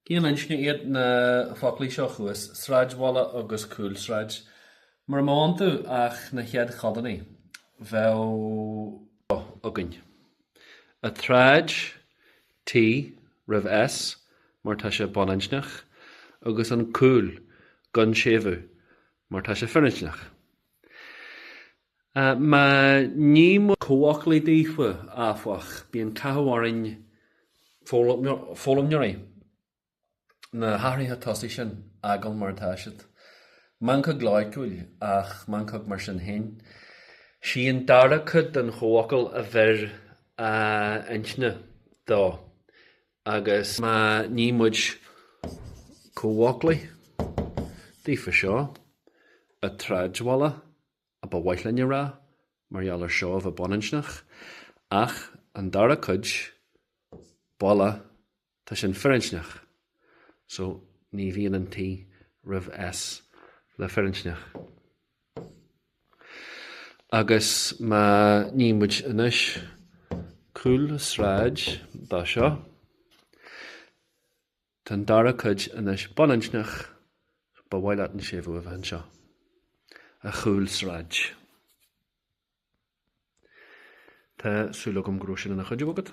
Cén inscne iad na focla seo thuas, sráidbhaile agus cúlsráid? Mura mbeadh iontu ach na chéad chodanna, bheadh againn an tsráid, T, roimh S, mar tá sé baininscneach, agus an cúl, gan séimhiú, mar tá sé firinscneach. Má ní muid comhfhocla daofa, áfach, bíonn cathú orainn foghlaimeoirí na hathruithe tosaigh sin a fhágáil mar atá siad. Meancóg loighciúil, ach meancóg mar sin féin. Sí an dara cuid den chomhfhocal a bheir an inscne dó agus má ní muid comhfhocla daofa seo an tsráidbhaile a ba mhaith linn a rá, mar gheall ar seo a bheith baininscneach, ach an dara cuid, baile, tá sin firinscneach, so ní bhíonn an T roimh S le firinscneach. Agus má ní muid anois cúlsráid dá seo. Tá an dara cuid anois baininscneach, ba mhaith leat an séimhiú a bheith anseo, an chúlsráid. Tá súil agam go raibh sin ina chuidiú agat.